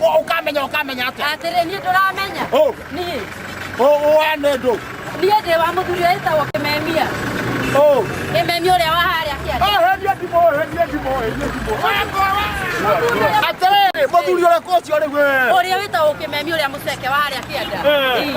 Wa- ukamenya ukamenya atä atĩrĩ niĩ ndũramenya Ũ. niĩ wanä ndå niĩ ndĩ wa mũthuri ũyũ wĩtagwo kĩmemia kĩmemia ũrĩa wa harĩa kĩanda henia ndimå henia ndimå henia ndimå atä rä rä må thuri å rä kå å cio rä we ũrĩa wĩtagwo kĩmemia ũrĩa mũceke wa harĩa kĩanda Eh. Ii.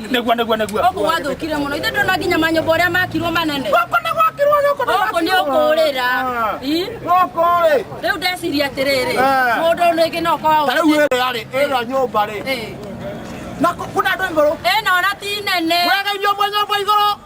nĩguo nĩguo nĩguo Gũkũ gwathũkire mũno. Ithe ndona nginya manyũmba ũrĩa makirwo manene. gũkũ nĩ gwakirwo gũkũ nĩ Gũkũ nĩ ũkũrĩra. Ii, gũkũ rĩ Rĩu ndeciria atĩrĩrĩ, Eh. mũndũ ũyũ rĩngĩ no ũkorwo ta rĩu ũrĩte. ĩrĩa rĩ ĩrĩa nyũmba rĩ Eh, na kũ- kuna andũ igũrũ Ĩno ona ti nene. wega irio mwe nyũmba igũrũ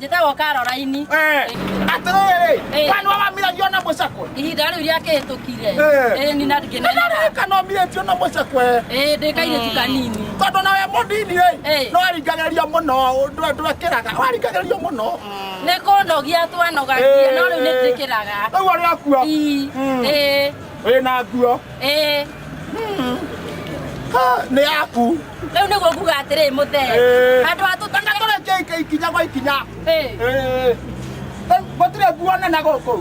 njĩtagwo karoraini Eh, atĩrĩrĩ Eh. mwana wa mamiratio na mũcakwe ihinda rĩu rĩakĩhĩtũkire Eh. ĩĩ nina ndingĩnenaga nĩrarĩka no mirĩtio na mũcakwe ĩĩ ndĩ kairĩtu kanini tondå nawe må ndini rä Eh. no aringagäria må no ndwekeraga waringagärio må no nĩ kũnogia twanogagia no rĩu nĩ njĩkĩraga rä u arä akua Ii, Mm. ĩĩ wä na nguo Eh, Ha, nĩ yaku rĩu nĩguo nguga atĩrĩ mũthee Eh. handũ ha tũtũre tũreke ika- ikinya gwa ikinya Eh, Eh, eh, gũtirĩ nguona na gũkũ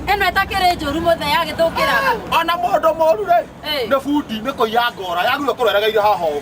ĩno ĩtakĩrĩ njũru mũthee agĩthũkĩra ona mũndũ mũru rĩ Eh. nĩ bundi nĩ kũiya ngora yagirwo kũreregeire haha ũũ.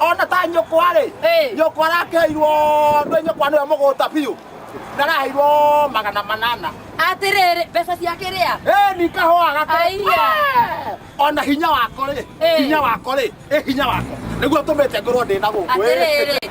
ona ta nyũkwa rĩ Ĩĩ. nyũkwa arakeirwo ndwĩ nyũkwa nĩwe mũgũta biũ ndaraheirwo magana manana atĩrĩrĩ mbeca ciake rĩa Ĩ, ni kahũa gake Aiya. Ĩ, ona hinya wako rĩ Ĩ. hinya wako rĩ ĩ hinya wako nĩguo tũmĩte ngorwo ndĩ na gũkũ ĩ. atĩrĩrĩ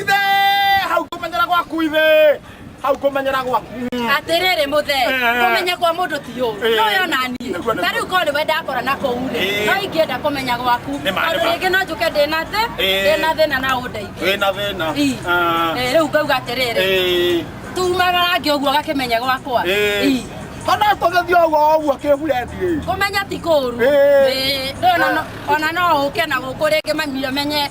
ithe hau kũmenyera gwaku ithe hau kũmenyera gwaku atĩrĩrĩ mũthe Eh. kũmenya kwa mũndũ ti ũũ Eh. no yona niĩ Nĩguo, nĩguo. ta rĩu korwo nĩwe ndakora na kũu rĩ Eh. no ingĩenda kũmenya gwaku Nĩ ma, nĩ tondũ ma. rĩngĩ no njũke ndĩ na thĩ Eh. ndĩ na thĩna na ũndeithie wĩ na thĩna Ii. Ah. Eh, rĩu ngauga atĩrĩrĩ Ĩĩ. tumaga rangi ũguo gakĩmenya gwakwa Ĩĩ. Ii. kana tũgĩthiĩ ũguo ũguo kĩburendi kũmenya ti kũru Ĩĩ. Ĩĩ, ndũna no- ona no ũke na gũkũ rĩngĩ manyio menye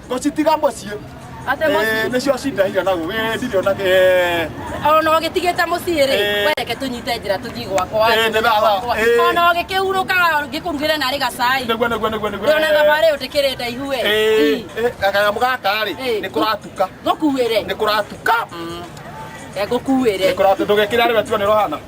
Gũcitiga mũciĩ. Ate Eh, mũciĩ. Nĩcio cinda higa na gũgĩ ndirĩ ona kĩ. eh, Ona ũgĩtigĩte mũciĩ rĩ, Eh. wereke tũnyite njĩra tũthiĩ gwakwa. Eh, nĩ thaa wa- Gwakwa. eh. Ona ũgĩkĩhurũka ngĩkũrugĩre narĩ gacai. Nĩguo nĩguo nĩguo nĩguo. Ndona thabarĩ ũtĩkĩrĩ ndaihu we. Eh, Ii, eh, kanyamũ gaka rĩ Eh. nĩ kũratuka. Ngũkuĩre. Nĩ kũratuka. Eh, Ngũkuĩre. Nĩ kũratuka ndũgekĩra rĩwe tuone rohana.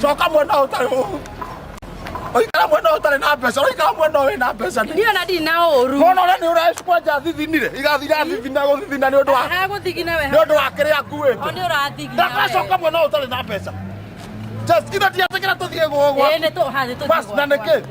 coka mwena ũyũ ũtarĩ ũũ. ũikara mwena ũyũ ũtarĩ na mbeca ũikara mwena ũyũ wĩna mbeca nĩ niona ndirĩ na ũru mwana ũrĩa nĩ ũrakwanja thithinire igathira thithina gũthithina nĩ ũndũ wa agũthigina we nĩ ũndũ wa kĩrĩa nguĩte nĩ ũrathigina ndakacoka mwena ũyũ ũtarĩ na mbeca Just, ithe tiatĩkĩra tũthiĩ gũgwa Ĩĩ, nĩ tũ- ha, nĩ tũthiĩ Bas, na gwa- nĩkĩ? gwa-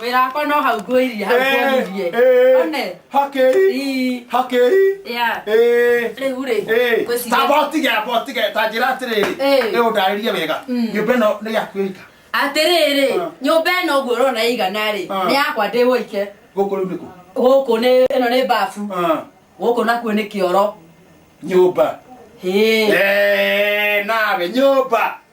wĩra wakwa no hau ngwĩrire hau ngwonirie one Ii. Yeah. rĩu rĩ ngwĩciria- tanjĩra atĩrĩrĩ Ĩĩ. ĩ ũndarĩrie wega Mm. nyũmba ĩno nĩ yaku ĩika atĩrĩrĩ Ah. nyũmba ĩno ũguo ũrona ĩigana rĩ Ah. nĩ yakwa ndĩ wũike gũkũ rĩu nĩkũ gũkũ nĩ ĩno nĩ babu Ah, gũkũ nakuo nĩ kĩoro nyũmba Hĩĩ. Eh, nawe nyũmba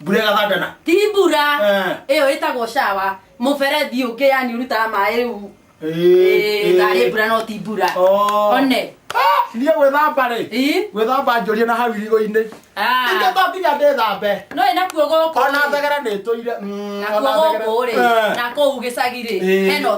mbura ĩgathangana ti mbura Eh. ĩyo ĩtagwo shawa mũberethi ũngĩ yani ũrutaga maĩ rĩu Ĩĩ, tharĩ mbura no ti mbura Oh. one thiĩ gwĩthamba rĩ Ĩ? gwĩthamba njũrie na hau irigũ-inĩ Ah. ithe to nginya ndĩthambe no ĩ nakuo gũkũ ona thegera nĩ ĩtũire Mm, nakuo ona thegera. gũkũ rĩ Eh. na kũu gĩcagi rĩ Ĩĩ. hena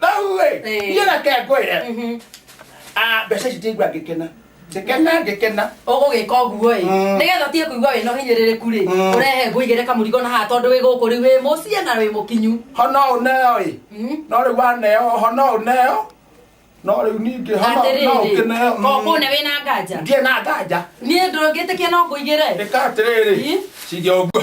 nahuwe Eh. iye reke ngwire Mhm. Ah, mbeca ici ndĩigua ngĩkena ngĩkena ngĩkena ũgũgĩka ũguo ĩ Mm. nĩgetha ũtige kũigua wĩna ũhinyĩrĩrĩku rĩ Mm. ũrehe ngũigĩre kamũrigo na haha tondũ wĩ gũkũ rĩu wĩ mũciĩ na wĩ mũkinyu hono ũneo ĩ Mm. no rĩu waneo hono ũneo no rĩu ningĩ hono no atĩrĩrĩ ũkĩneo Mm. kokũne wĩ na nganja ndiĩ na nganja niĩ ndũngĩtĩkia no ngũigĩre ĩka atĩrĩrĩ Ĩ? ciria ũguo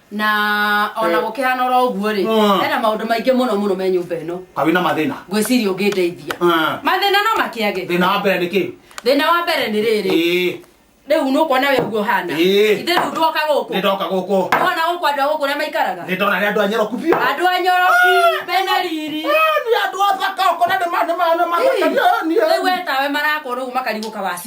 na ona Eh. gũkĩhana oro ũguo-rĩ Mm. hena maũndũ maingĩ mũno mũno me nyũmba ĩno ka wĩna mathĩna ngwĩciria ũngĩndeithia Ah. mathĩna no makĩage thĩna wa mbere nĩ kĩ thĩna wa mbere nĩ rĩrĩ Ĩĩ, rĩu nũkuona we ũguo hana Ĩĩ. ithe rĩu ndoka gũkũ nĩndoka gũkũ nĩwona gũkũ andũ a gũkũ ũrĩa maikaraga nĩndona nĩ andũ anyeroku biũ andũ a nyoroki mena riri Eh, nĩ andũ athaka ũkona nĩ ma- nĩ ma- nĩ mathaka Ii. niĩ- niĩ- rĩu wetawe marakwo rĩu makarigũka waci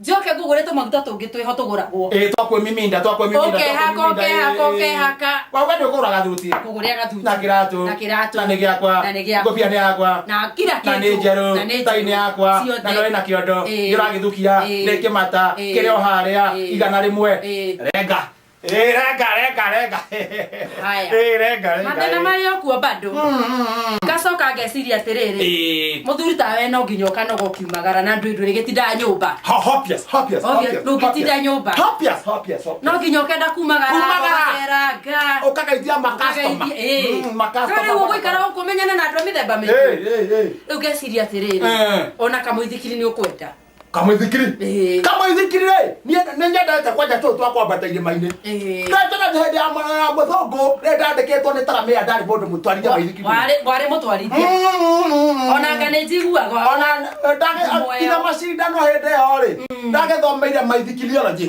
njoke ngũgũre tũmaguta tũngĩ twĩho tũgũragwo ĩĩ twakwĩmiminda twakwĩmiminda ũkehaka twakwĩmiminda, ũkehaka ĩĩ. ũkehaka Wa- we nĩ ũkũgũra gathuti ngũgũrĩa gathuti na kĩratũ na kĩratũ na nĩ gĩakwa na nĩ gĩakwa. ngũbia nĩ yakwa na kira na nĩ kĩndũ njerũ na nĩ tai nĩ njerũ. yakwa Ciothe. na nĩ na kĩondo Ĩĩ. gĩragĩthukia Ĩĩ. nĩ kĩmata Ĩĩ. kĩrĩ o harĩa Ĩĩ. igana rĩmwe Ĩĩ. renga Eh, renga renga renga Haya. Eh, renga renga mathĩna eh. marĩ okuo bado ngacoka ngeciria atĩrĩrĩ Eh, mũthuri tawe no nginya ũkanoga ũkiumagara na ndwĩ ndwĩrĩ gĩtinda nyũmba ho- hopias, hopias, Obvious, hopias, ndũngĩtinda hopias. nyũmba. Hopias, hopias, hopias. no nginya ũkenda kumagara Kumagara. gũceranga Ũkagaithia ma customer. Mm, ma customer. rĩu ũgũikara gũkũ ũmenyane na andũ a mĩthemba mĩingĩ Eh, eh, eh. rĩu ngeciria atĩrĩrĩ Eh. ona kamũithikiri nĩ ũkwenda kamwithikiri Ĩĩ. kamwithikiri rĩ niĩ nĩ nyendete kwanja tũũ twa kwambata irĩma-inĩ Ĩĩ. ndetena hĩndĩ ya mwana ya mũthũngũ rĩ ndandĩkĩtwo nĩ taramĩa ndarĩ mũndũ mũtwarithia wa ithikiri warĩ warĩ mũtwarithia onanga nĩ njiguaga ona Moyo. ndagĩkinya macindano hĩndĩ ĩyo rĩ ndagĩthomeire maithikiriology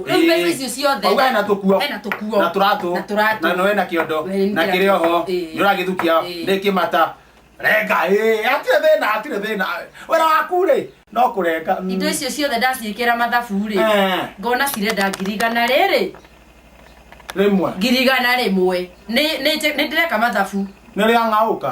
Rĩu mbeca icio ciothe. Wauga hena tũkuo. Hena tũkuo. Na tũratũ. Na tũratũ. Na nĩwe na kĩondo. Na nĩ Na kĩratũ. kĩrĩ oho. Ĩĩ. Nĩ ũragĩthukia. Ĩĩ. Nĩ kĩmata. Renga. Ĩĩ. Hatirĩ thĩna. Hatirĩ thĩna. Wĩra waku rĩ. No kũrenga. Mm. indo icio ciothe ndaciĩkĩra mathabu rĩ Eh. ngona cirenda ngiri igana rĩrĩ Rĩmwe. ngiri igana rĩmwe Nĩ- nĩ nĩ ndĩreka mathabu Nĩ rĩa ng'aũka.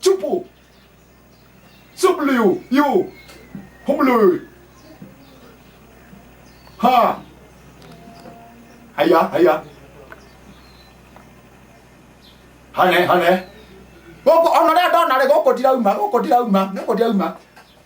Chupu. Subliu. You. Humlu. Ha. Haya, haya. Hane, hane. Gũkũ ona rĩa ndona rĩ gũkũ ndirauma, gũkũ ndirauma, gũkũ ndirauma.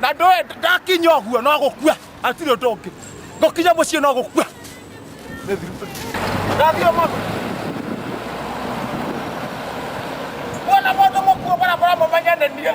na ndoe ndakinya ũguo no gũkua atirĩ ũndũ ũngĩ ngũkinya mũciĩ no gũkua ndathiĩ mũndũ kuona mũndũ mũkuo barabara mũmenye nĩ niĩ